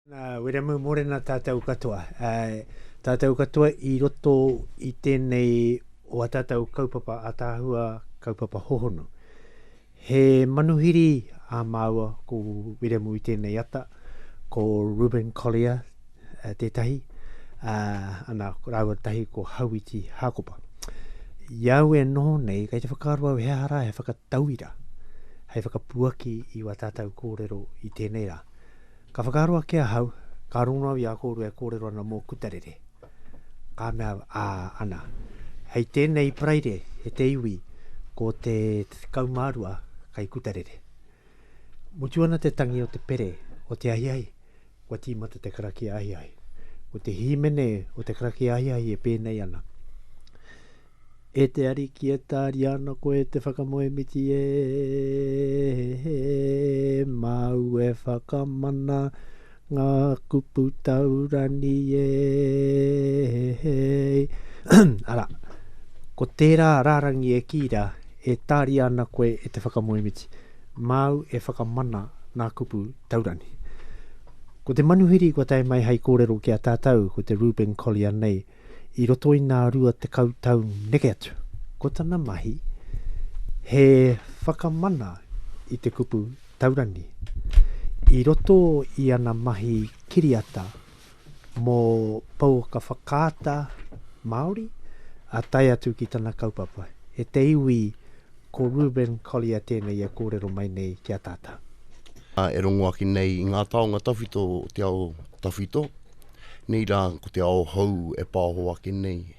Nā Wiremu Morena tātou katoa. Tātou katoa i roto i tēnei o a tātou kaupapa ataahua, kaupapa hohonu. He manuhiri a māua ko Wiremu i tēnei ata, ko Reuben Collier tētahi, ana rāua tahi ko Hauiti Hākopa. I au e noho nei, kei te whakaaro au he aha rā he whakataetae, Tauira, hei whakapuaki i wā tātau kōrero i tēnei rā. Ka whakaaro ake ahau, ka rongo au i a kōrua e kōrero ana mō Kutarere. Ka mea, ā, ana, hei tēnei Paraire e te iwi ko te tekau mā rua kei Kutarere. Mutu ana te tangi o te pere o te ahiahi, Kua tīmata te karakia ahiahi. Ko te hīmene o te karakia ahiahi e pēnei ana. E te ariki e tāria ana koe te whakamoemiti e māu e whakamana ngā kupu taurani e Ara, ko tērā rārangi e kīra e tāria ana koe e te whakamoemiti. Māu e whakamana ngā kupu taurangi. Ko te manuhiri kua tae mai hei kōrero ki a tātou ko te Reuben Collier nei i roto i ngā rua tekau tau neke atu. Ko tana mahi he whakamana i te kupu taurangi. I roto i ana mahi kiriata, mō pouaka whakaata Māori, ā tae atu ki tana kaupapa. E te iwi, ko Reuben Collier tēnei e kōrero mai nei ki a tātou. E rongo ake nei i ngā taonga tawhito o te ao tawhito, nei rā ko te ao hou e pāho ake nei.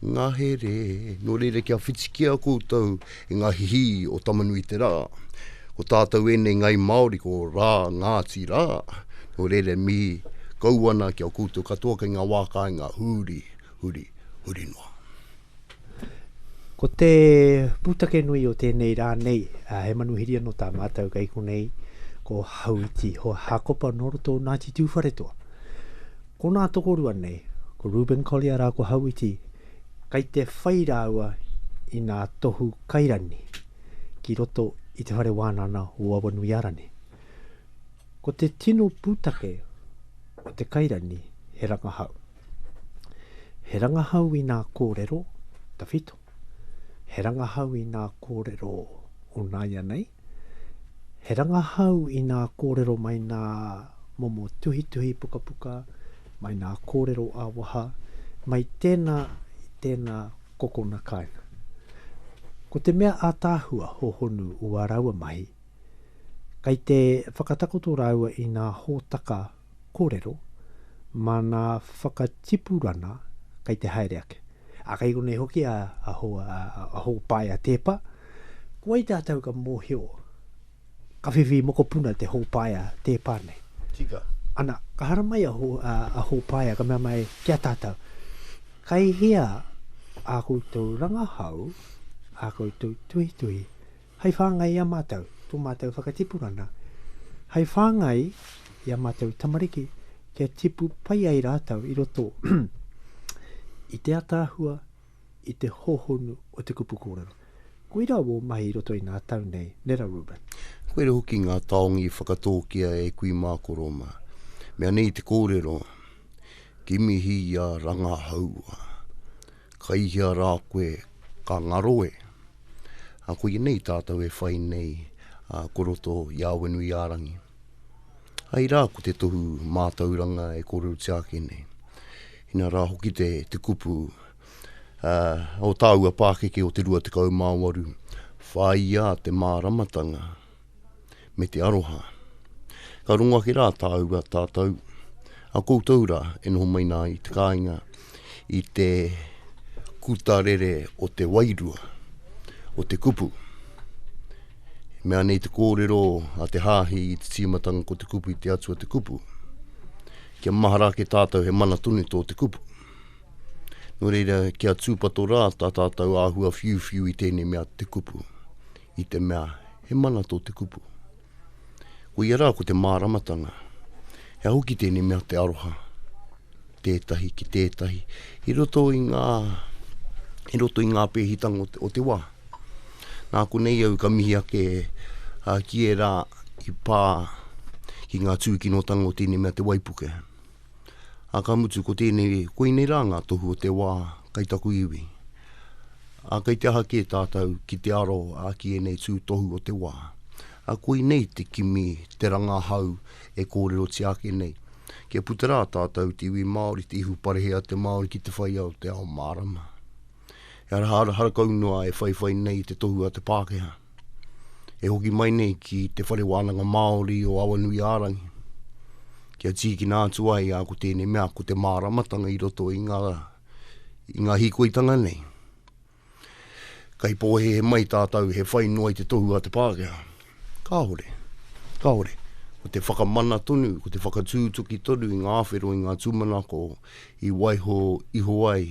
Ngahere, nō reira kia whitikia koutou i ngā hihī o Tama-nui-te-rā. Ko tātou ēnei ngai Māori ko Rā, Ngāti Rā, nō reira e mihi kau ana ki a koutou katoa kei ngā wā kāinga huri, huri, huri noa. Ko te pūtake nui o tēnei rā nei, he manuhiri anō tā mātou kei konei, ko Hauiti Hoa Hākopa nō roto o Ngāti Tūwharetoa. Ko nā tokorua nei, ko Reuben Collier rā ko Hauiti, kai te whai rāua i nā tohu kairani ki roto i te whare wānana o Awanuiārani. Ko te tino pūtake o te kairani he rangahau. He rangahau i nā kōrero, tawhito, he rangahau i nā kōrero o nāianei, He rangahau i nā kōrero mai nā momo tuhituhi pukapuka, mai nā kōrero ā-waha, mai tēnā i tēnā kokona kāinga. Ko te mea ātaahua hōhonu ua rāua mahi, kai te whakatakoto rāua i nā hōtaka korero, mana whakatipurana kei te haere ake. A kei konei hoki a, a, ho, a, a Hōpae a Tēpa, ko wai tātou ka mōhio, ka whiwhi mokopuna te Hōpae a Tēpa nei. Tika. Ana, ka haramai a, ho, a, a Hōpae, ka mea mai ki a tātou, kei hea ā koutou rangahau, ā koutou tuhituhi, Hei whāngai i a mātou, tō mātou whakatipurana, hei whāngai i a mātou tamariki kia tipu pai ai rātou i roto i te ataahua, i te hōhonu o te kupu kōrero. Koirā wō mahi i roto i ngā tau nei, Nera Reuben. Koirā hoki ngā taonga i whakatōkia e kui mā koro mā. Mea nei te kōrero, Kimihi i a Rangahaua. Kai hea rā koe ka ngaro e? A koinei tātou e whai nei ko roto i Awenuiārangi. Ai rā ko te tohu mātauranga e kōrerotia ake nei. Ina rā hoki te kupu o tāua pākeke o te 28, whāia te māramatanga. me te aroha. Ka rongo ake rā tāua tātou, a koutou rā e noho mai nā i te kāinga, i te kuta rere o te wairua, o te kupu. Mea nei te kōrero a te hāhi i te tīmatanga ko te kupu i te atua te kupu. Kia mahara ake tātou he mana tonu tō te kupu. Nō reira, kia tūpato rā tā tātou āhua whiuwhiu i tēnei mea te kupu. I te mea, he mana tō te kupu. Koia rā ko te māramatanga. He ahu ki tēnei mea te aroha, tētahi ki tētahi, i roto i ngā, i roto i ngā pēhitanga o te, o te wā. Nā konei au ka mihi ake uh, ki ērā i pā ki ngā tūkinotanga o tēnei mea te waipuke. A ka mutu ko tēnei, koinei rā ngā tohu o te wā kai taku iwi. A kai te aha kē tātou ki te aro a ki ēnei tū tohu o te wā. A koinei te kimi, te rangahau e kōrerotia ake nei. Kia puta rā tātou te iwi Māori, te ihu parehea te Māori ki te whai ao, te ao mārama. He ara harakau noa e whaiwhai nei i te tohu a te Pākehā. E hoki mai nei ki te Whare Wānanga Māori o Awanuiārangi, kia tīkina atu ai a ko tēnei mea, ko te māramatanga i roto i ngā, i ngā hīkoitanga nei. Kai pōhehe mai tātou he whai noa i te tohu a te Pākehā. Kāore, kāore. Ko te whakamana tonu, ko te whakatūtuki tonu i ngā whero, i ngā tūmanako i waiho iho ai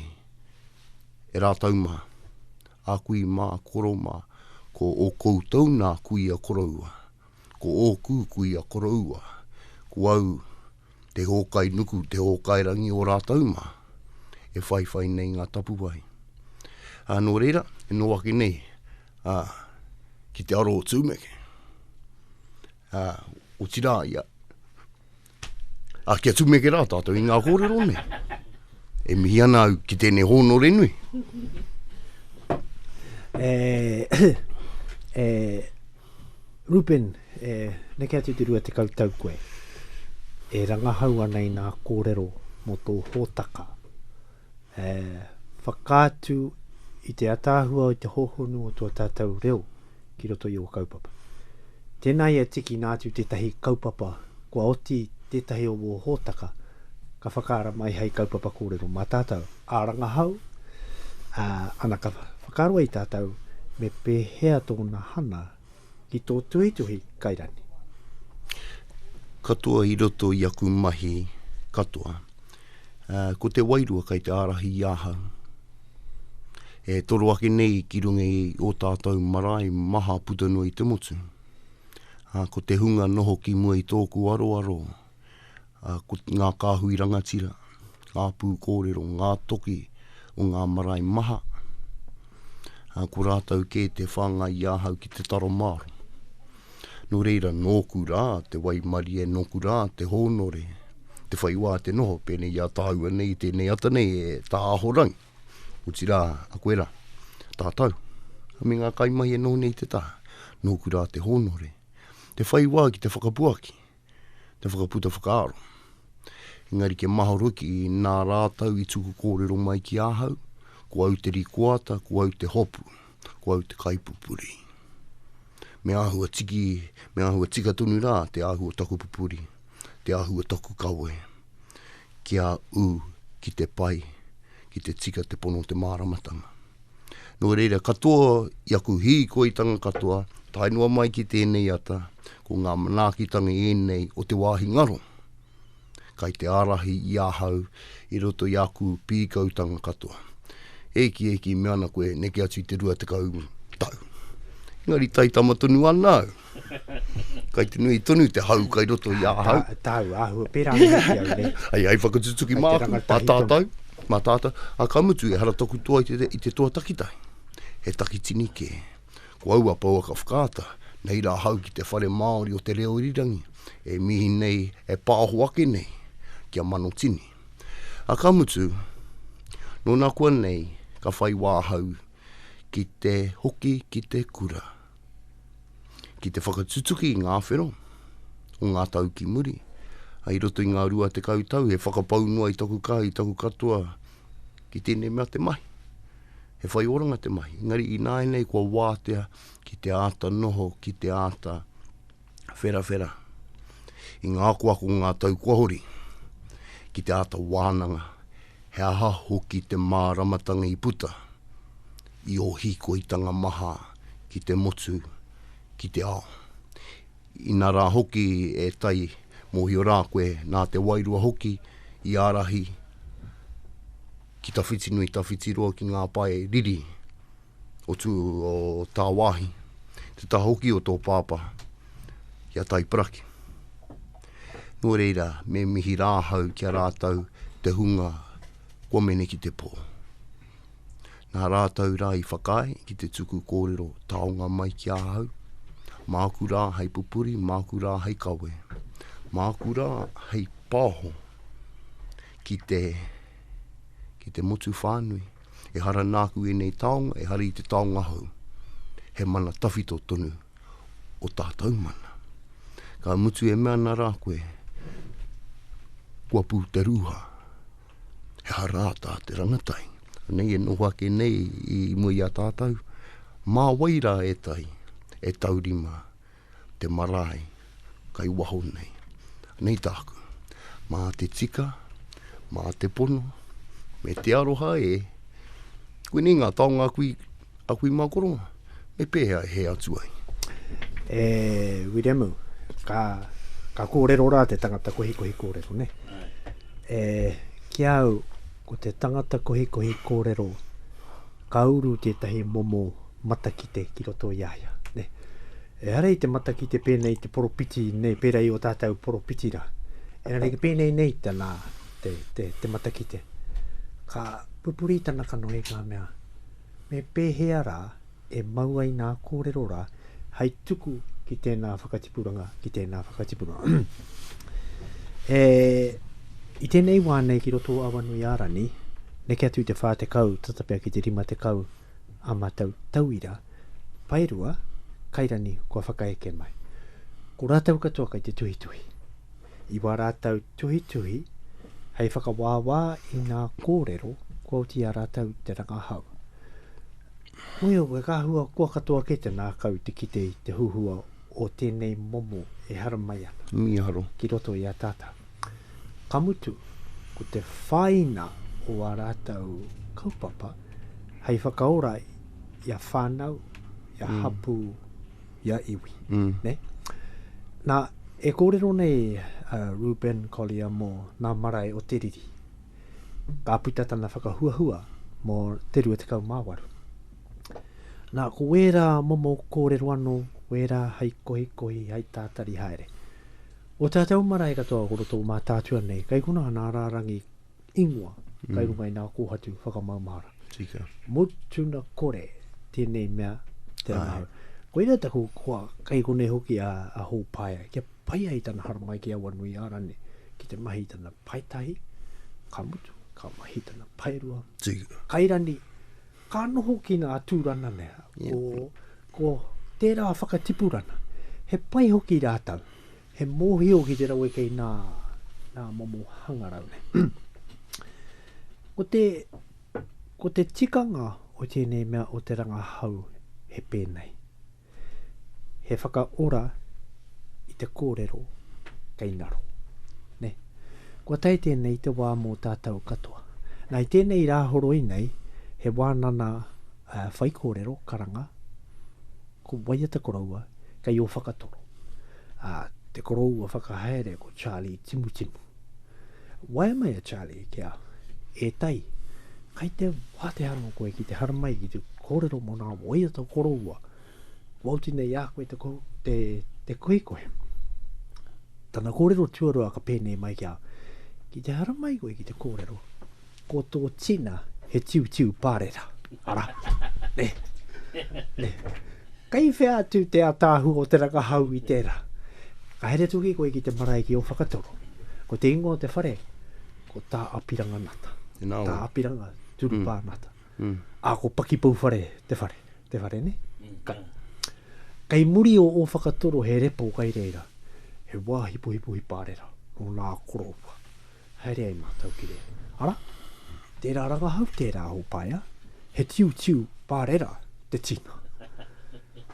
e rātou mā, a kui mā, koro mā, ko ō koutou nā kui a koroua, ko ōku kui a koroua, ko au te hōkai nuku, te hōkai rangi o rātou mā, e whaiwhai nei ngā tapuwae. Ā, nō reira, e nō ake nei, ā, ki te aro o Tūmeke, ā, otirā ia, A kia tumeke rā tātou i ngā kōrero nei. E mihi ana au ki tēnei hōnore nui. E, e, Rupen, e, neke atu te rua tekau tau koe. E rangahau ana i nā kōrero mō tō hōtaka. e whakaatu i te ataahua o te hohonu o tua tātou reo ki roto i o kaupapa. Tēnā ia tikina atu tētahi kaupapa kua oti tētahi o wō hōtaka ka whakaara mai hei kaupapa kōrero mā tātou, ā rangahau, ā, ana ka whakaaro i tātou me pēhea tōna hana ki tō tuhituhi kairani. Katoa i roto i aku mahi katoa, ko te wairua kei te ārahi i ahau. E toro ake nei ki runga i ō tātou marae maha puta noa i te motu. Ko te hunga noho ki mua i tōku aroaro, ā, ko ngā kāhui rangatira, ngā pūkōrero, ngā toki o ngā marae maha, ā, ko rātou kē te whāngai i ahau ki te taro māro. Nō reira, nōku rā te waimarie, nōku rā te hōnore, te whai wā te noho, pēnei i a tāua nei, tēnei ata nei e Tā Ahorangi, otirā, a koe rā, tātou, me ngā kaimahi e noho nei i te taha, nōku rā te hōnore, te whai wā ki te whakapuaki, te whakaputa whakaaro. Engari kia mahoro hoki, nā rātou i tuku kōrero mai ki ahau, ko au te rikoata, ko au te hopu, ko au te kaipupuri. Me āhua tiki, me āhua tika tonu rā te ahu o taku pupuri, te ahu o taku kawe, kia ū ki te pai, ki te tika te pono o te māramatanga. Nō reira, katoa i aku hīkoitanga katoa, tae noa mai ki tēnei ata, ko ngā manaakitanga ēnei o te wāhi ngaro, kai te ārahi i ahau i roto i aku pīkautanga katoa. Ēkiēki me ana koe neke atu i te 20 tau. Engari taitama tonu ana au. Kai te nui tonu te hau kai roto i ahau. Ta, tau, ahua, pera ane ki au nei. Ai, ai, whakatutuki mā aku, mā tātou, mā tātou. A ka mutu, e hara toku toa i te, i te toa takitai. He takitini kē. Ko aua pouaka whakaata, nei rā ahau ki te whare Māori o te reo irirangi, e mihi nei, e pāho ake nei, ki a Manotini. A ka mutu, nō nā kua nei, ka whai wā ahau ki te hoki ki te kura. ki te whakatutuki i ngā whero o ngā tau ki muri. I roto i ngā rua tekau tau, he whakapau noa i taku kaha, i taku katoa, ki tēnei mea te mahi. He whai oranga te mahi, engari ināianei kua wātea ki te āta noho, ki te āta. wherawhera i ngā akoako o ngā tau kua hori, ki te āta wānanga he aha hoki te māramatanga i puta i ō hīkoitanga maha ki te motu, ki te ao. Ina rā hoki e tai mōhio rā koe nā te wairua hoki i ārahi ki tawhiti nui, tawhiti roa ki ngā pae riri. o tū o tāwāhi, te taha hoki o tō pāpā ki a Taiparaki. Nō reira, me mihi rā ahau ki a rātou te hunga kua mene ki te pō. Nā rātou rā i whakaae ki te tuku kōrero taonga mai ki a ahau, māku rā hei pupuri, māku rā hei kawe, māku rā hei pāho ki te, ki te motu whānui. Ehara nāku ēnei taonga, ehara i te taonga hou. He mana tawhito tonu o tātou mana. Ka mutu e mea ana rā koe, kua pū te rūha, ehara tā te rangatai. Anei e noho ake nei i mua i a tātou, mā wai rā e tai, e taurima, te marae kai waho nei. Nei tāku, mā te tika, mā te pono, me te aroha e, koinei ngā taonga aku i, aku i makoro, me pēhea e hē atu ai? E Wiremu, ka, ka kōrero rā te tangata kohikohi kōrero, nē? E, ki a au, ko te tangata kohikohi kōrero, Ka uru tētahi momo matakite ki roto i a ia. Ehara i te matakite pēnei i te poropiti nei, pērā i ō tātou poropiti rā. Engari ki pēnei nei tana, te, te, te matakite. Ka pupuri tana kanohi, ka mea, Me pēhea rā e mau ai nā kōrero rā, hei tuku ki tēnā whakatipuranga, ki tēnā whakatipuranga. e, I tēnei wā nei ki roto o Awanui Arani, neke atu i te whā te kau, tata pia ki te rima te kau a matau tauira, paerua, kairani kua whakaeke mai. Ko rātau katoa kai te tuhituhi. I wā rātau tuhituhi, hei whakawāwā i ngā kōrero, kua uti a rātau te rangahau. Muio, koe ka hua koa katoa kē te nākau te kite i te huhua o tēnei momo e haramai ana. Mīharo. Ki roto i a tātau. Ka mutu, ko te whāina o ā rātau kaupapa hei whakaora i a whānau, i a hapū, i a iwi. Nē? Nā, e kōrero nei a Reuben Collier mō ngā marae o te riri. ka puta tana whakahuahua mō te 28. Nā, ko wērā momo kōrero anō, wērā hai kohikohi, hai tātari haere. O tātou marae katoa ko roto o Mātaatua nei, kai konā nā rārangi ingoa mm. kai runga i nā kōhatu whakamaumahara. Tika. Mutuna kore tēnei mea te rangahau. Koira taku koa, kai konei hoki a, a Hōpaia, kia Pai ai tana haramai ki aua nui ara nei, ki te mahi i tana paetahi, ka mutu, ka mahi i tana paerua, kairani, ka noho ki nga tūrana nei, ko, ko tērā whakatipurana. He pai hoki rātou, he mōhio ki te rawe kei nā, nā momo hangarau nei. ko te, ko te tikanga o tēnei mea o te rangahau he pēnei. He whakaora i te kōrero kei ngaro. Ne? Kua tae tēnei te wā mō tātou katoa. Nā, i tēnei rā horoi nei, he wānana uh, whaikōrero, karanga, ko Waiata Koroua, kei o whakatoro. Uh, te koroua whakahaere ko Charlie Timutimu. Waeamai a Charlie kia, E Tai, kai te wātea anō koe ki te haramai ki te kōrero mō nā waiata koroua kua oti nei a koe te, te, te koekoe. Tana kōrero tuarua ka pēnei mai kia, ki te haramai koe ki te kōrero, Ko tō tina he tiutiu pārera, arā, nē, nē. Kei whea atu te ataahua o te rangahau i tērā? Ka haere tuki koe ki te marae ki Ōwhakatoro. Ko te ingoa o te whare, ko Tā Apiranga Nata. Tēnā koe. Tā Apiranga Turupā Nata. Ā, ko Pakipouwhare te whare, te whare, nē? Kai. Kei muri o Ōwhakatoro he repo kai reira, he wāhi pohipohi pārera, nō nā Korōpua. Haere ai mātou ki reira. Ara, tērā rangahau, tērā hōpaea, he tiutiu pārera te tina.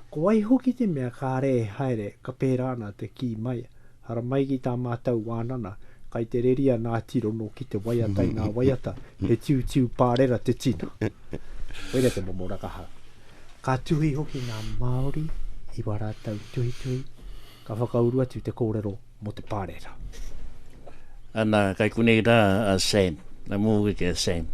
Ko wai hoki te mea kāre e haere ka pērā ana te kī mai, ara mai ki tā mātou wānana, kai te reri a Nā Tirono ki te waiata i ngā waiata, he tiutiu pārera te tina. Koira te momo rangahau. Ka tuhi hoki ngā Māori i wā rātou tuhituhi, ka whakauru atu te kōrero mō te pāreeta. Ana, kai konei rā a Sam, a mōwe ki a Sam,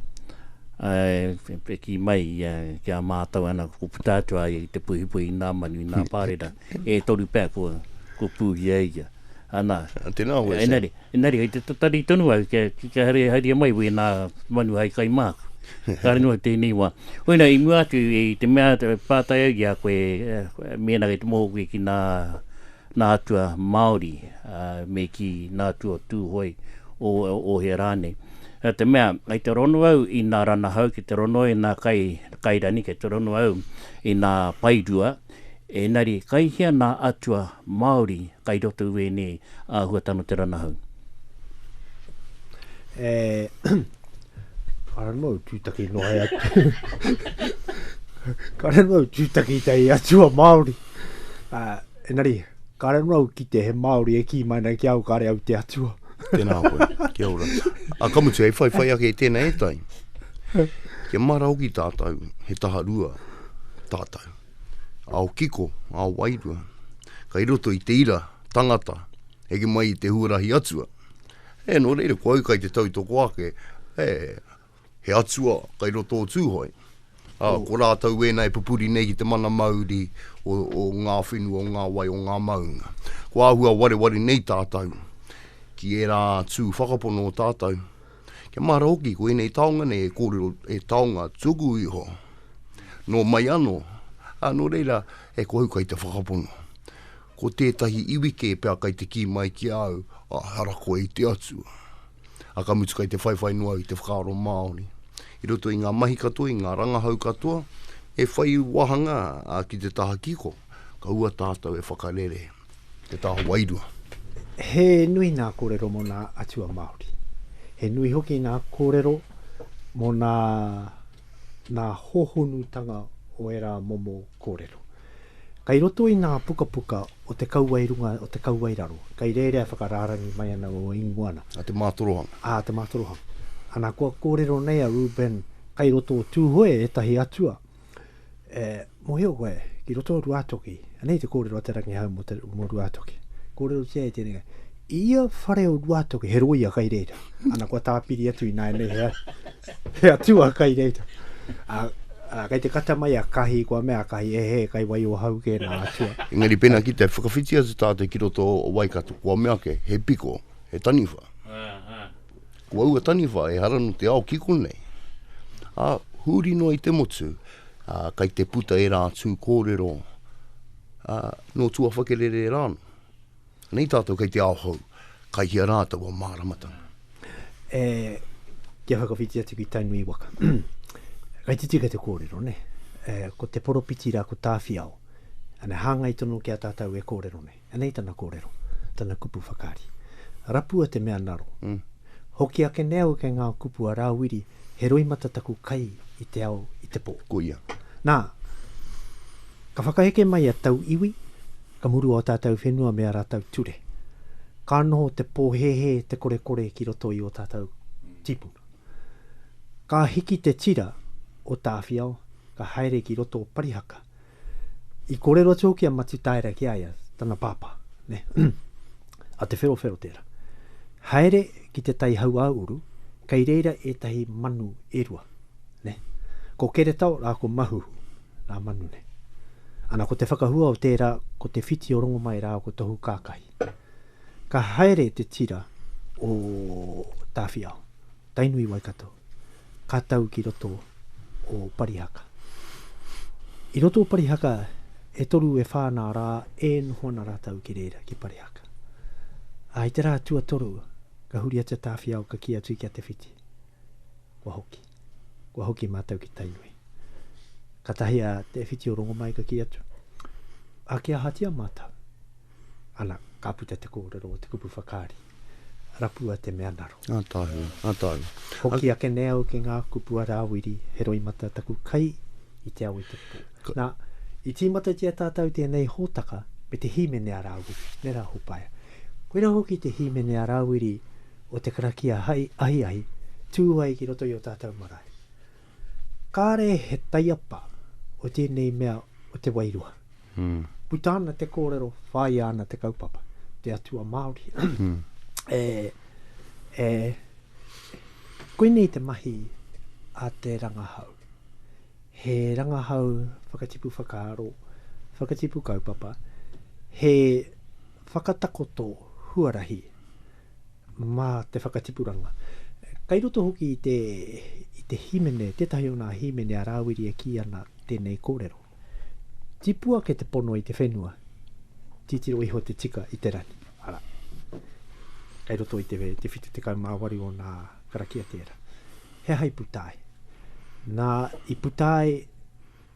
e ki mai ia ki a mātou ana ko puta atu a ia i te puhipuhi i nā manu, i nā hmm. pārera, e toru pea ko, ko pūhia ia. Ana, tēnā hoa e Sam. Enari, hei te tatari tonu au, kia, kia haria, haria mai wē nā manu hai kai māku. Kāre noa tēnei wā. Hoina, i mua atu, i te mea pātai au i a koe, eh, mēnā kei te mōku ki nā, nā atua Māori, ā, me kī, nā atua Tūhoe, ō, ōhea rānei. Nā te mea, kei te rono au i nā ranahau, kei te rono au i nā kai, kairani, kei te rono au i nā paerua, ēnari, kai hea nā atua Māori kai roto i wēnei āhuatanga o te ranahau? Ka ranu au tūtaki noa e atu. Ka ranu au tūtaki te i atua Māori. Uh, enari, ka ranu au ki te he Māori e ki mai nei ki au, kare au te atua. Tēnā koe, kia ora. A ka mutu, hei whai whai ake tēnā e tai. Kia mara hoki tātou, he taha rua tātou. Ao kiko, ao wairua. Kai roto i te ira, Tangata, heke mai i te huarahi atua. E, nō reira, ko au kai te tautoko ake, e, he atua kai roto o Tūhoe. A, ko rātou ēna e pupuri nei ki te mana mauri o, o ngā whenua, o ngā wai, o ngā maunga. Ko āhua wareware nei tātou ki ērā tū whakapono o tātou. Kia mahara hoki, ko ēnei taonga nei e kōrero, e taonga tuku iho, nō mai anō. A, nō reira, e, ko au kai te whakapono. Ko tētahi iwi kē pea kai te kī mai ki a au, ehara koe i te Atua. A ka mutu kai te whaiwhai noa au i te whakaaro Māori. I roto i ngā mahi katoa, i ngā rangahau katoa, e whai wāhanga ki te taha kiko, kaua tātou e whakarere i te taha wairua. He nui ngā kōrero mō ngā atua Māori. He nui hoki ngā kōrero mō ngā ngā hōhonutanga o ērā momo kōrero. Kei roto i ngā pukapuka o te kauwae runga, o te kauwae raro, kei rērea whakarārangi mai ana o Inguana. A te mātorohanga. A te mātorohanga. Ana, kua kōrero nei a Reuben, kei roto o Tūhoe ētahi atua, e, mōhio koe, ki roto o Ruātoki, anei te kōrero a Te Rangihau mō te, mō Ruātoki, kōrerotia e tēnei, i ia whare o Ruātoki, he rōia kei reira. Ana, kua tāpiri atu ināianei he, He atua kai reira. A, a, kai te kata mai a Kahi, kua mea a Kahi, e he, kai wai o hau ke na atua. Engari pena ki te whakawhiti atu tātou ki roto o Waikato, kua mea ake, he piko, he taniwha. Ko aua taniwha, ehara no te ao kiko nei. A, huri noa i te motu, a, kai te puta era atu kōrero, a, no Tuawhakerere rānō. Nei tātou kei te ao hou, kai hea rā taua māramatanga? E, kia whakawhiti atu ki Tainui waka. Kai te tika te kōrero, nē? E, ko te poropiti rā ko Tāwhiao. Anei, hāngai tonu ki a tātou e kōrero nei. Anei tana kōrero, tana kupu whakaari. Rapua te mea naro. Hoki ake nei au kei ngā kupu a Rāwiri, he roimata taku kai i te ao, i te pō. Koia. Nā, ka whakaheke mai a Tauiwi, Ka murua ō tātou whenua me ā rātou ture. Ka noho te pōhēhē, te korekore ki roto i ō tātou tīpuna. Ka hiki te tira o Tāwhiao, ka haere ki roto o Parihaka. I kōrero atu hoki a Matutaera ki a ia, tana pāpā, nē, a Te Wherowhero tērā. Haere ki te tai hauāuru, kei reira ētahi manu e rua. Nē. Ko Keretao rā ko Mahuhu, rā manu nei. Ana ko te whakahua o tērā ko Te Whiti o Rongomai rā ko Tohu Kākahi. Ka haere te tira o Tāwhiao, Tainui Waikato, ka tau ki roto o Parihaka. I roto o Parihaka e toru e whā nā rā e noho ana rātau ki reira, ki Parihaka. Ā, i te rā tuatoru ka huri atu a Tāwhiao ka kī atu ki a Te Whiti, Kua hoki. Kua hoki mātou ki Tainui. Katahi a Te Whiti o Rongomai ka ki atu, Ake ahatia mātou? Ana, ka puta te kōrero o te kupu whakaari, Rapua te mea naro. Ngā tāhū, ngā tāhū. Hoki ake nei au ki ngā kupu a Rāwiri, he roimata taku kai i te ao i te pō. Nā, i tīmatatia tātou tēnei hōtaka me te hīmene a Rāwiri, nē rā Hopaea. Koirā hoki te hīmene a Rāwiri, o te karakia hai ahiahi tū ai ki roto i o tātau marae. Kāre he taiapa o tēnei mea o te wairua. Puta ana te kōrero, whāia ana te kaupapa, te atua Māori. e, e, koinei te mahi a te rangahau. He rangahau whakatipu whakaaro, whakatipu kaupapa, he whakatakoto huarahi. mā te whakatipuranga. Kei roto hoki i te, i te hīmene, tētahi o ngā hīmene a Rāwiri e kī ana tēnei kōrero, Tipu ake te pono i te whenua, titiro iho te tika i te rangi. Arā, kei roto i te, te 78 o ngā karakia tērā. He aha i puta ai? Nā, i puta ai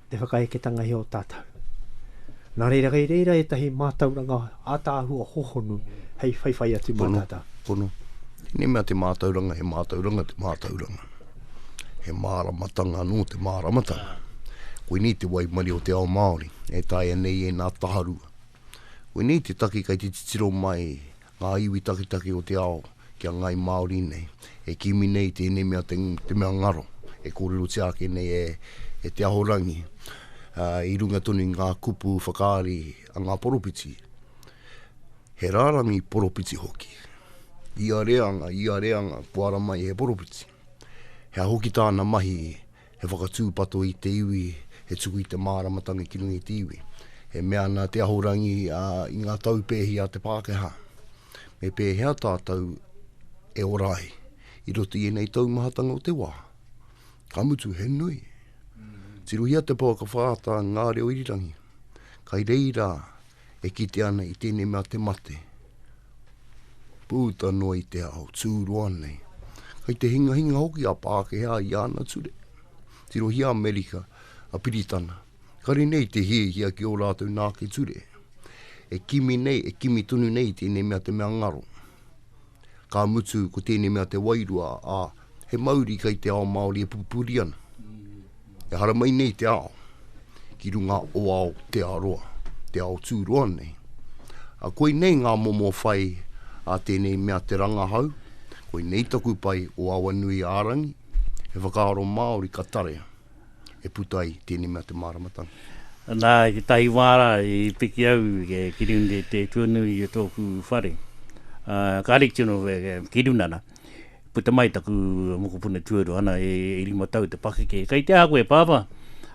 te whakaeketanga i ō tātou. Nā reira, kei reira ētahi mātauranga ātaahua hohonu hei whaiwhai atu mā tātou. Pono, pono. Tēnei mea te mātauranga, he mātauranga te mātauranga. He māramatanga anō te māramatanga. Koinei te waimari o te ao Māori, e taea nei ēnā taharua. Koinei te take kei te titiro mai Ngā iwi taketake o te ao ki a Ngāi Māori nei, e kimi nei i tēnei mea te mea ngaro, e kōrerotia ake nei e Te Ahorangi, i runga tonu i ngā kupu whakaari a ngā poropiti, he rārangi poropiti hoki. Ia reanga, ia reanga, kua ara mai he poropiti. Hea hoki tāna mahi He whakatūpato i te iwi, he tuku i te māramatanga ki runga i te iwi. E mea ana te Ahorangi, ā, i ngā tau pēhi a te Pākehā, me pēhea tātou e ora ai i roto i ēnei taumahatanga o te wā? Ka mutu, he nui. Tirohia te pouaka whātā, ngā reo irirangi. Kai reira, E kite ana i tēnei mea te mate. Pūta noa i te ao, tūroa nei. Kai te hingahinga hoki a Pākehā i ana ture. Tirohia Amerika, a Piritana. Kare nei te hiahia ki ō rātou nāke ture. E kimi nei, e kimi tonu nei i tēnei mea te mea ngaro. Ka mutu, ko tēnei mea te wairua a he mauri kei te ao Māori e pupuri ana, e haramai nei te ao, ki runga o ao te aroa, te ao tū roa nei. A koi nei ngā momo whai a tēnei mea te rangahau, koi nei taku pai o Awanui ārangi, he whakaaro Māori ka tarea, e puta ai tēnei mea te māramatanga. Nā, i tētahi wā rā i piki au ki runga i te tuanui o tōku whare, ka rite noa ki runga rā. Puta mai taku mokopuna tuarua ana e, e rima tau te pakeke. Kei te aha koe, pāpā?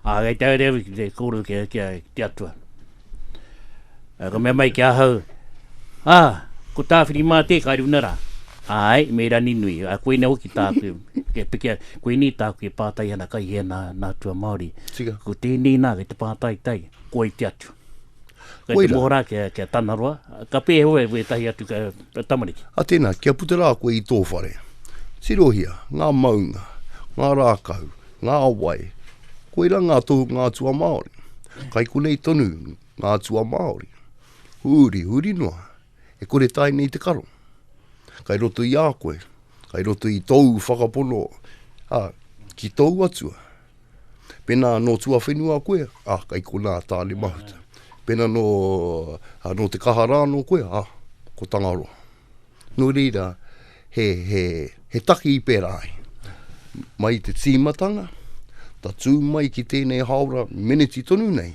Ā, kei te haere au ki te kōrero ki, ki, ki te atua. Ā, ka mea mai ki ahau, ā, ko tāwhiri mā tē kai runa rā. Āe, me rani nui, a koinei hoki tāku, kia pikia, koinei tāku e pātai ana kai hea nā, nā tua Māori. Tika. Ko tēnei nā, kei te pātai tai, koi te atua. Kei Koira. te mohorā kia, kia tanaroa, ka pēheo e wētahi atu ka, tamariki. A tēnā, kia puta rā koe i tō whare. Tirohia, ngā maunga, ngā rākau, ngā wai, koira ngā tohunga atua Māori. Kai konei tonu ngā atua Māori. Huri, huri noa, e kore tae nei te karo. Kai roto i a koe, kai roto i tōu whakapono, a, ki tōu atua. Pena no tuawhenua koe, a, kei kona a Tane Mahuta. Pena no, a, no te kaha ra ano koe, a, ko Tangaroa. No reira, he, he, he taki i pera ai. Mai i te timatanga, tatū mai ki tenei haora meneti tonu nei,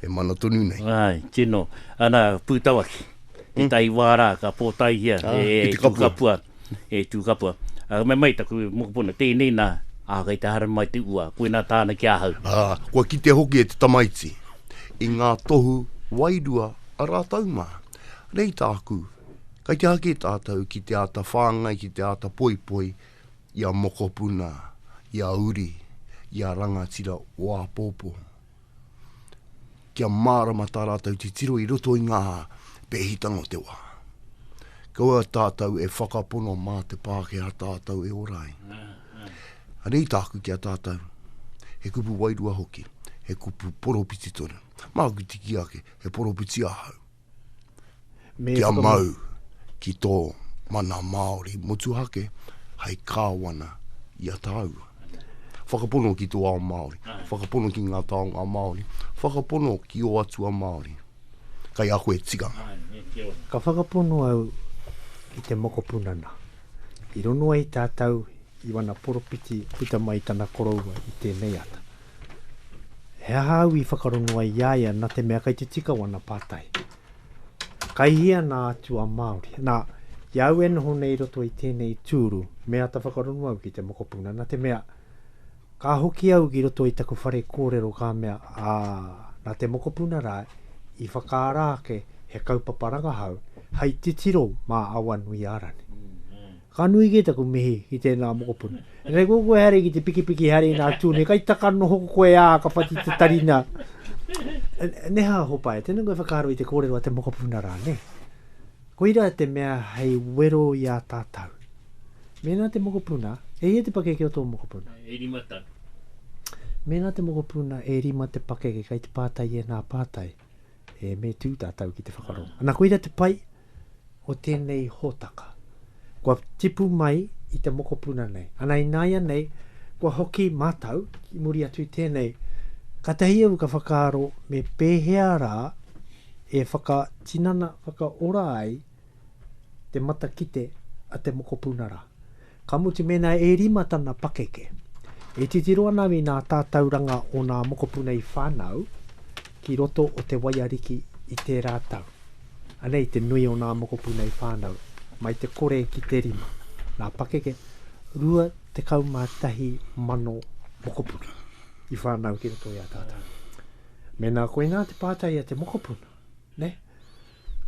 e mana tonu nei. Ai, tino. Ana, Pūtawaki, tētahi wā rā ka pōtaihia e Tūkapua, e Tūkapua. Ā, me mai taku mokopuna, tēnei nā, ā, kei te haere mai te ua, koinā tāna ki ahau. Ā, kua kitea hoki e te tamaiti, i ngā tohu wairua a rātou mā, nei tāku, kei te hake tātou ki te āta whāngai, ki te āta poipoi i a mokopuna, i a uri, i a rangatira o āpōpō. kia mārama tā rātou titiro i roto i ngā pēhitanga o te wā. Kaua tātou e whakapono mā te Pākehā tātou e ora ai. Anei tāku ki a tātou, he kupu wairua hoki, he kupu poropiti tonu. Māku tiki ake, he poropiti ahau. kia mau ki tō mana Māori motuhake hei kāwana i a tāua. Whakapono ki tō ao Māori, whakapono ki ngā taonga Māori, whakapono ki ō atua Māori. Kei a koe tikanga. Ka whakapono au ki te mokopunana. I rongo ai tātou i wana poropiti puta mai i tana koroua i tēnei ata. He aha au i whakarongo ai i a ia na te mea kai te tika wana patai. Kai hia na atua Maori. Na, i au e noho nei roto i tenei turu, me ata whakarongo au ki te mokopuna na te mea, ka hoki au ki roto i taku whare korero ka mea, a, na te mokopuna ra i whakaara ake he kaupapa rangahau hai titiro ma Awanui-a-Rani. Ka nui kē taku mihi ki tēnā mokopuna. Engari ko koe haere ki te pikipiki haere nā Tune, kai taka noho ko koe ā, ka whati te tari nā. Neha Hopae, tēnā koe whakaaro i te kōrero a te mokopuna rā, nē? Koira te mea hei wero i a tātou. Mēnā te mokopuna, e hia te pakeke o tō mokopuna? E rima tau. Mēnā te mokopuna, e rima te pakeke, kai te pātai i ēnā pātai. e me tū tātou ki te whakarongo. Ana, koira te pai o tēnei hōtaka. Kua tipu mai i te mokopuna nei. Ana, ināianei, kua hoki mātou ki muri atu i tēnei. Kātahi au ka whakaaro me pēhea rā e whakatinana, whakaora ai te matakite a te mokopuna rā. Ka mutu mēnā e rima tana pakeke. E titiro ana i ngā tātauranga o ngā mokopuna i whānau ki roto o Te Waiariki i tērā tau. Anei te nui o ngā mokopuna i whānau, mai te kore ki te rima, ngā pakeke, 21,000 mokopuna i whānau ki roto i a tātau. Mēnā koinā te pātai a te mokopuna, nē?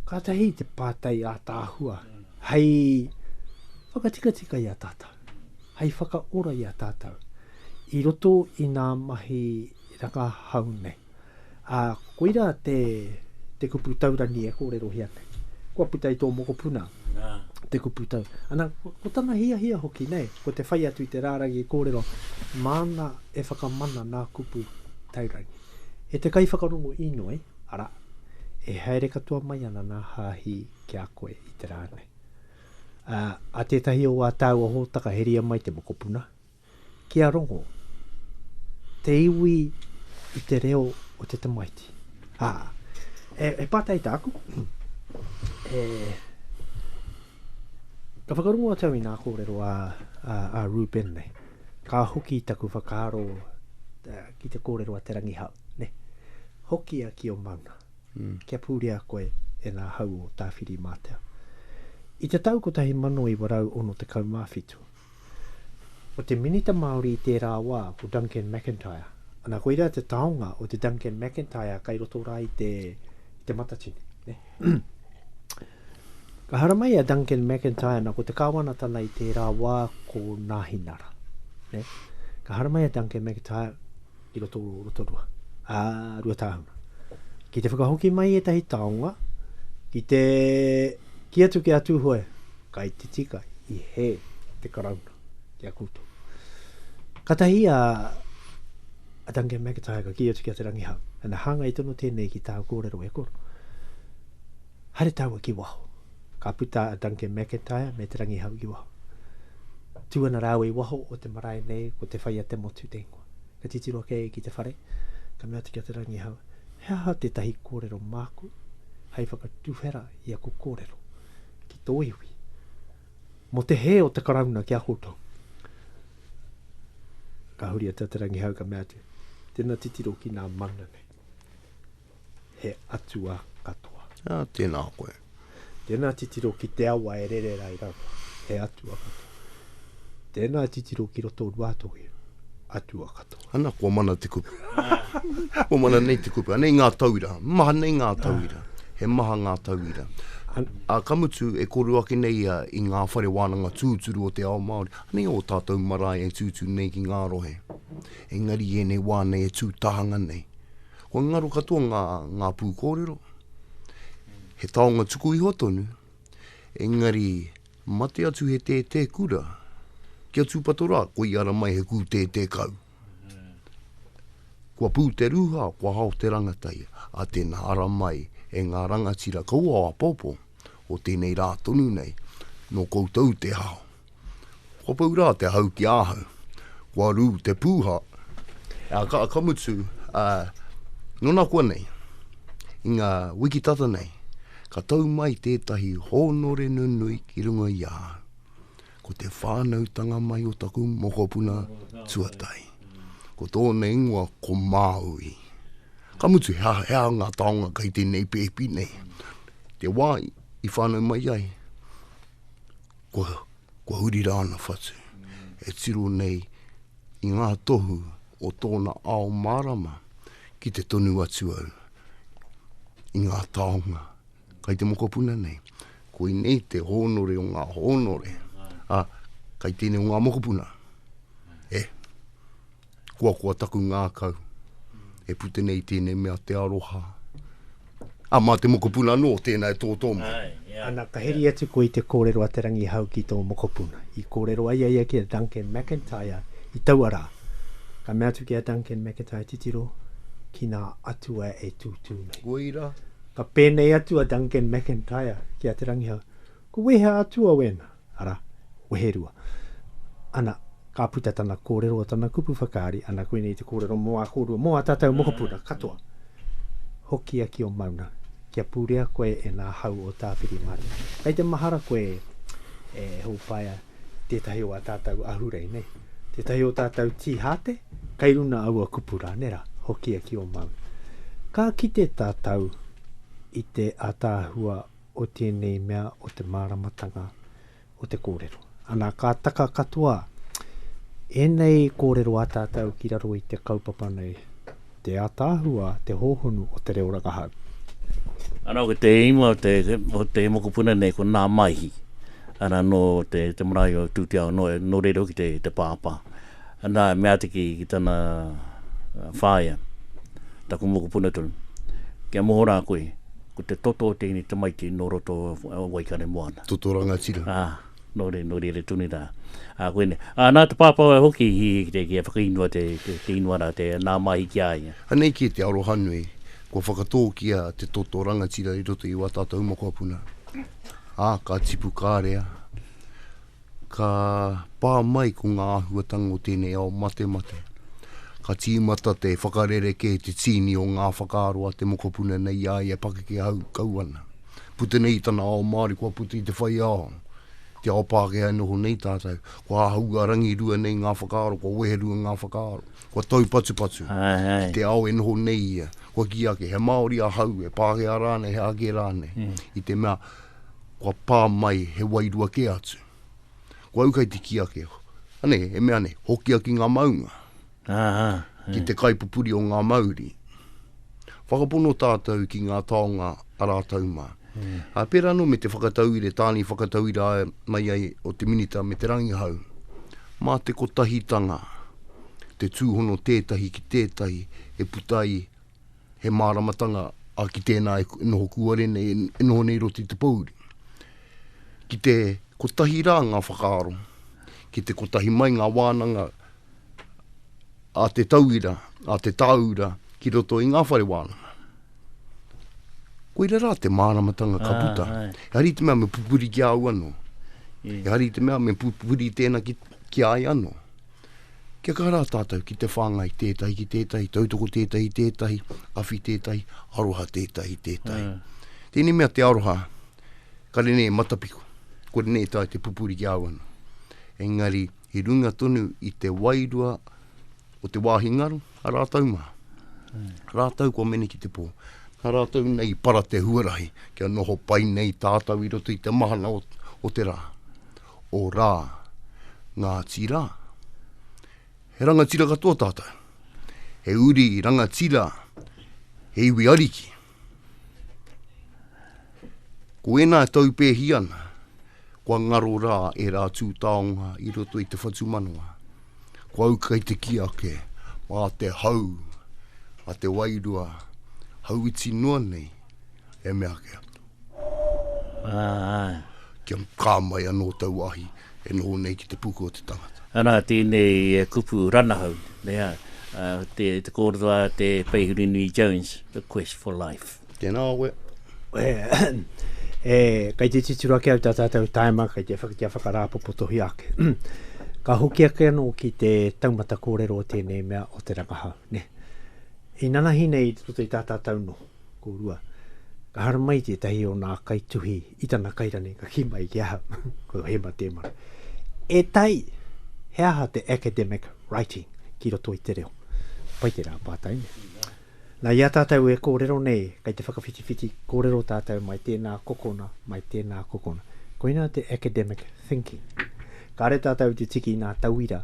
Kātahi te pātai ātaahua hei whakatikatika i a tātou, hei whakaora i a tātou i roto i ngā mahi rangahau nei. Ā, koirā te, te kupu taurangi e kōrerohia nei. Kua puta i tō mokopuna te kupu tau. Ana, ko tana hiahia hoki nei, ko te whai atu i te rārangi kōrero, māna e whakamana ngā kupu taurangi. E te kaiwhakarongo inoi, Arā, e haere katoa mai ana nā Hāhi ki a koe i te rā nei. Ā, a tētahi o ā tāua hōtaka heria mai te mokopuna, ki a Rongo, te iwi i te reo o te tamaiti. Ā, e, e pātai tāku, e, ka whakarongo atu au i nā kōrero a, a, a Ruben nei, ka hoki taku whakaaro ki te kōrero a Te Rangihau. Ne. Hokia ki o maunga. Kia purea koe e nga hau o Tawhiri-mātea. I te tau 1967, ko te minita Māori i tērā wā ko Duncan McIntyre, ana koirā te taonga o te Duncan McIntyre kai roto rā i te i te Matatini, ne. Ka haramai a Duncan McIntyre, ana ko te Kāwanatana i tērā wā ko Nāhinara, ne. Ka haramai a Duncan McIntyre, i roto o Rotorua, ā, Ruatāhuna. Ki te whakahoki mai ētahi taonga, ki te ki atu ki a Tūhoe, ka i te tika, i he te karauna ki a koutou. Katahi a, a Duncan McIntyre ka ki atu ki a Te Rangihau, ana hāngai tono tēnei ki tāu kōrero e koro. Hare tāua ki waho. Ka puta a Duncan McIntyre me Te Rangihau ki waho. Tū ana rāua i waho o te marae nei ko te whai a te motu te ingoa. ka titiro kē ki te whare, ka mea atu ki a Te Rangihau, he aha tētahi kōrero māku hei whakatuwhera i aku kōrero ki tō iwi, mō te hē o te Karauna ki a koutou? Ka huri atu a Te Rangihau ka mea atu, tēnā titiro ki nā mana nei. he atua katoa. Ā, tēnā koe. Tēnā titiro ki te awa e rere rai rawa, he atua katoa. Tēnā titiro ki roto Ruātoki, atua katoa. Ana, kua mana te kupu. kua mana nei te kupu. Anei ngā tauira. Maha nei ngā tauira. He maha ngā tauira. Ā, ka mutu, e kōrero ake nei ia i ngā whare wānanga tūturu o te ao Māori. Anei ō tātou marae e tūtū nei ki ngā rohe. Engari i ēnei wā nei e tū tahanga nei. Kua ngaro katoa ngā, ngā pūkōrero, he taonga tuku iho tonu, engari mate atu he tētē kura, ki a Tūpato rā, ko i ara mai he kū tētē kau. Kua pū te rūha, kua hao te rangatai, a tēnā ara mai e ngā rangatira kaua o apōpō, o tēnei rā tonu nei, nō koutou te hao. Kua pau rā te hau ki ahau. Kua rū te pūha. Ā, ka, ka mutu, ā, nō nā kua nei, i ngā wiki tata nei, ka tau mai tētahi hōnore nunui ki runga i ahau. Ko te whānautanga mai o taku mokopuna tuatahi. Ko tōna ingoa ko Māui. Ka mutu, he aha, he aha ngā taonga kei tēnei pēpi nei? Te wā i whānau mai ai, kua huri rā ana whatu e tiro nei i ngā tohu o tōna ao mārama ki te tonu atu au i ngā taonga kai te mokopuna nei. Koinei te hōnore o ngā hōnore, a, kai tēnei o ngā mokopuna. E. koa koa taku ngākau, e pute nei tēnei mea te aroha. A mā te mokopuna anō, tēnā e tō tō mai. Ana, ka heri atu koe i te kōrero a Te Rangihau ki tō mokopuna. I kōrero ai a ia ki a Duncan McIntyre i taua rā. Ka mea atu ki a Duncan McIntyre titiro, ki nā atua e tūtū nei. Koira. Ka pēnei atu a Duncan McIntyre ki a Te Rangihau, ko wēhea atua wēnā? Ara, weherua. Ana, ka puta tana korero, tana kupu whakaari, ana koinei te korero mo a korua, mo a tatou mokopuna katoa. Hokia ki o Mauna, kia purea koe e nga hau o Tawhiri-Manu. Kei te mahara koe e Hopaea, tetahi o a tatou ahurei, nei? Tetahi o tatou tii-hate? Kei runa aua kupu ra, nera? Hokia ki o Mauna. Ka kite tatou i te ataahua o tēnei mea o te māramatanga o te kōrero. Ana, ka taka katoa ēnei kōrero a tātou ki raro i te kaupapa nei, te ataahua, te hōhonu o te reo rangahau. Ana, ko te ingoa o te, o te mokopuna nei, ko Nā Maihi. Ana, nō te, te marae o Tūteao, nō, nō reira hoki te, te pāpā. Nā, me āta kī ki tana whāea, taku mokopuna tonu, Kia moho rā koe, ko te toto o tēnei tamaiti nō roto o Waikare moana. Toto rangatira. Ā, nō reira, nō reira tonu rā. Ā, koinei. Ā, nā te pāpā wai hoki i, kia whakainua te, te inua rā, te nā māhi ki a ia. Anei kē te arohanui, kua whakatōkia te toto rangatira i roto i wā tātou mokopuna. Ā, ka tipu kārea. Ka pā mai ko ngā āhuatanga o tēnei ao matemate. Ka tīmata te whakarerekē, te tīni o ngā whakaaro a te mokopuna nei i a ia e pakeke hau kau ana. Puta nei i tana ao Māori, kua puta i te whai ao, te ao Pākehā e noho nei tātou. Kua āhua rangirua nei ngā whakaaro, kua weherua ngā whakaaro, kua taupatupatu ki te ao e noho nei ia. Kua kī ake, he Māori ahau, he Pākehā rānei, he āke rānei, i te mea, kua pā mai he wairua kē atu. Kua uka i te kī ake, ane, e mea nei, hokia ki ngā maunga. Aha, e. Ki te kaipupuri o ngā mauri. Whakapono tātou ki ngā taonga a rātou mā. E. Ā, pērā anō me te whakatauire, tāni whakatauira mai ai o te Minita me te Rangihau, mā te kotahitanga te tūhono tētahi ki tētahi e puta ai he māramatanga a ki tēnā e noho kūare nei, e noho nei roti i te pōuri. Ki te kotahi rā ngā whakaaro, ki te kotahi mai ngā wānanga a te tauira, a te tāura ki roto i ngā whare wānanga. Koira rā te māramatanga ka ah, puta. Ah, e hari te mea me pupuri ki au anō. Yeah. E hari te mea me pupuri tēnā ki, ki ai anō. kia kaha rā tātou ki te whāngai tētahi ki tētahi, tautoko tētahi i tētahi, awhi tētahi, aroha tētahi i tētahi. Mm. Tēnei mea te aroha, kare nei e matapiku, kore nei e tae te pupuri ki au ana. Engari, i runga tonu i te wairua o te wāhi ngaro, a rātou mā. Mm. Rātou kua mene ki te pō. Nā rātou nei para te huarahi, kia noho pai nei tātou i roto i te mahana o, o te rā. o Rā, Ngāti Rā. He rangatira katoa tātou. He uri rangatira, he iwi ariki. Ko ēnā e taupēhi ana, kua ngaro rā e rā tū taonga i roto i te whatumanawa. Ko au kai te ki ake, mā te hau, mā te wairua, hauiti noa nei, e mea ake atu. Kia kā mai anō taua ahi e noho nei ki te puku o te tangata. Anā, tēnei kupu ranahau, nē, te kōrero a te Peihurinui Jones, The Quest for Life. Tēnā koe. E, kei te titiro ake au tā tātou taima, kei te whaka, kia whakarāpopotohia ake. Ka hoki ake anō ki te taumata kōrero o tēnei mea o te rangahau, nē. Inanahi nei i roto i tā tātou noho. Kōrua. Ka haramai tētahi o nā kaituhi i tana kairane, ka kī mai ki ahau, ko Hema Tēmara, E tai! He aha te academic writing ki roto i te reo? Pai te rā pātai, nē? Nā, i a tātou e kōrero nei, kei te whakawhitiwhiti kōrero tātou mai tēnā kokona, mai tēnā kokona. Koinā te academic thinking. Kāre tātou te tiki nā tauira,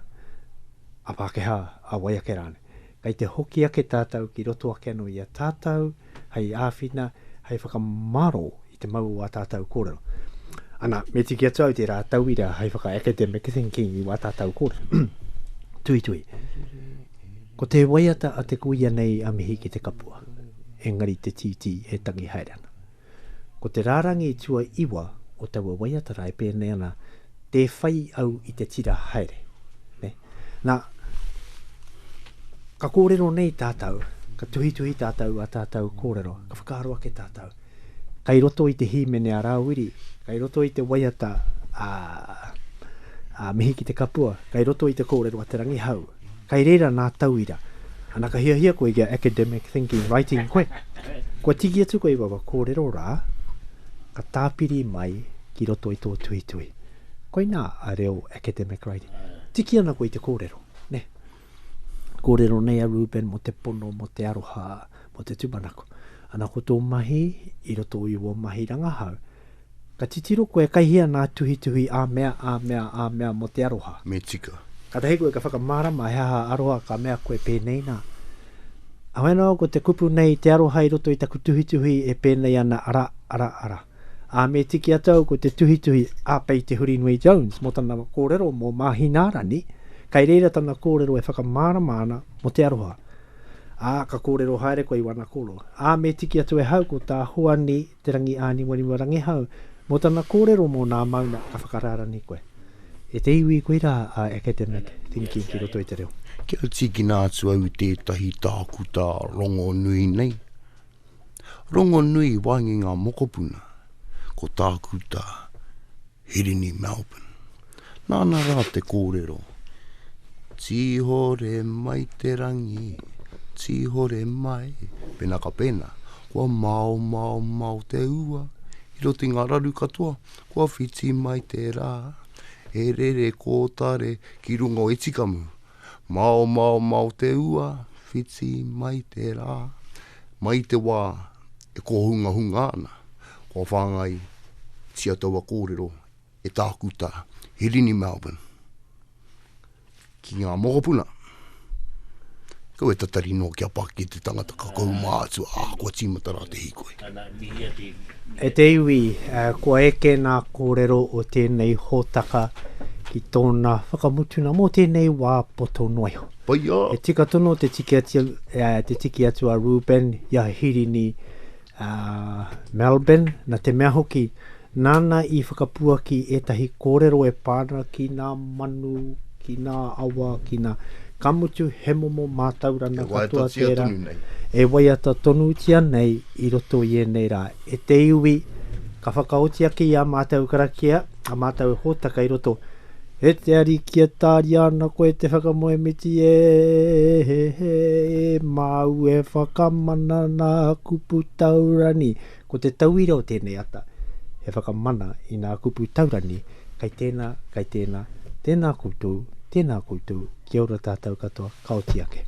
a Pākehā, a wai ake rānei. kei te hoki ake tātou ki roto ake anō i a tātou, hei āwhina, hei whakamaro i te mau o ā tātou kōrero. Ana, me tiki atu au tērā tauira hei whaka academic thinking i wā tātou kōrero. tui tui. Ko te waiata a te kuia nei a mihi ki te kapua, engari te tītī e tangi haere ana. Ko te rārangi tuaiwa o taua waiata rā e pēnei ana, Tē whai au i te tira haere. Ne? Nā, ka kōrero nei tātou, ka tuhituhi tātou ā tātou kōrero, ka whakaaro ake tātou, kei roto i te hīmene a Rāwiri, kei roto i te waiata a, a Mihi ki te Kapua, kei roto i te kōrero a Te Rangihau, Kei reira nā tauira. Ana ka hiahia koe kia academic thinking writing koe. Kua tiki atu koe i wawa kōrero rā, ka tāpiri mai ki roto i tō tuitui. Koinā a reo academic writing. Tiki ana koe i te kōrero, nē. Kōrero nei a Reuben mō te pono, mō te aroha, mō te tūmanako. Ana ko tō mahi i roto i wō mahi rangahau, Ka titiro koe kei hea ngā tuhituhi ā mea, ā mea, ā mea mō te aroha. Me tika. Kātahi koe ka whakamārama he aha aroha ka mea koe pēnei nā. Ahau anō ko te kupu nei te aroha i roto i taku tuhituhi e pēnei ana ara, ara, ara. Ā, me tiki atu au ko te tuhituhi a Pei Te Hurinui Jones mō tana kōrero mō Māhinārani, kei reira tana kōrero e whakamārama ana mō te aroha. Ā, ka kōrero haere koe i wana koro. Ā, me tiki atu e hau ko tā Hoani Te Rangi Āniwaniwa Rangihau, mō tana kōrero mō nā mauna ka whakarārani koe. E te iwi, koirā a Academic Thinking ki roto i te reo. Kia tīkina atu au i tētahi tākuta rongonui nei, rongonui wāinga i ngā mokopuna, ko Tākuta. Hirini Melbourne. Nāna rā te kōrero. Tīhore mai te rangi, tīhore mai. Pēnā ka pēnā, kua maomao mao te ua, i roto i ngā raru katoa, kua whiti mai te rā, e rere kōtare ki runga o Etikamu. Maomao mao te ua, whiti mai te rā. Mai i te wā E kōhungahunga ana, kua whāngaitia taua kōrero e Tākuta Hirini Melbourne ki ngā mokopuna. Kau e tatari noa kia paki e te tangata ka kohu mātua, ā, kua tīmata rā te hīkoi. E te iwi, kua eke ngā kōrero o tēnei hōtaka ki tōna whakamutunga mō tēnei wā poto noa iho. Whaiā! He tika tonu te tiki atu, uh, te tiki atu a Reuben i a Hirini uh, Melbourne, na te mea hoki, nāna i whakapuaki ētahi kōrero e pā ana ki nā manu, ki nā awa, ki nā... Ka mutu, he momo mātaurana e katoa tērā. E waiata tonutia nei i roto i ēnei rā. E te iwi, ka whakaoti ake i a mātou karakia, a mātou hōtaka i roto, E te Ariki e tāria ana koe e te whakamoemiti e māu e whakamana nā kupu taurani. Ko te tauira o tēnei ata, he whakamana i nā kupu taurani, kai tēnā, kai tēnā, tēnā koutou, tēnā koutou, kia ora tātou katoa, ka oti ake.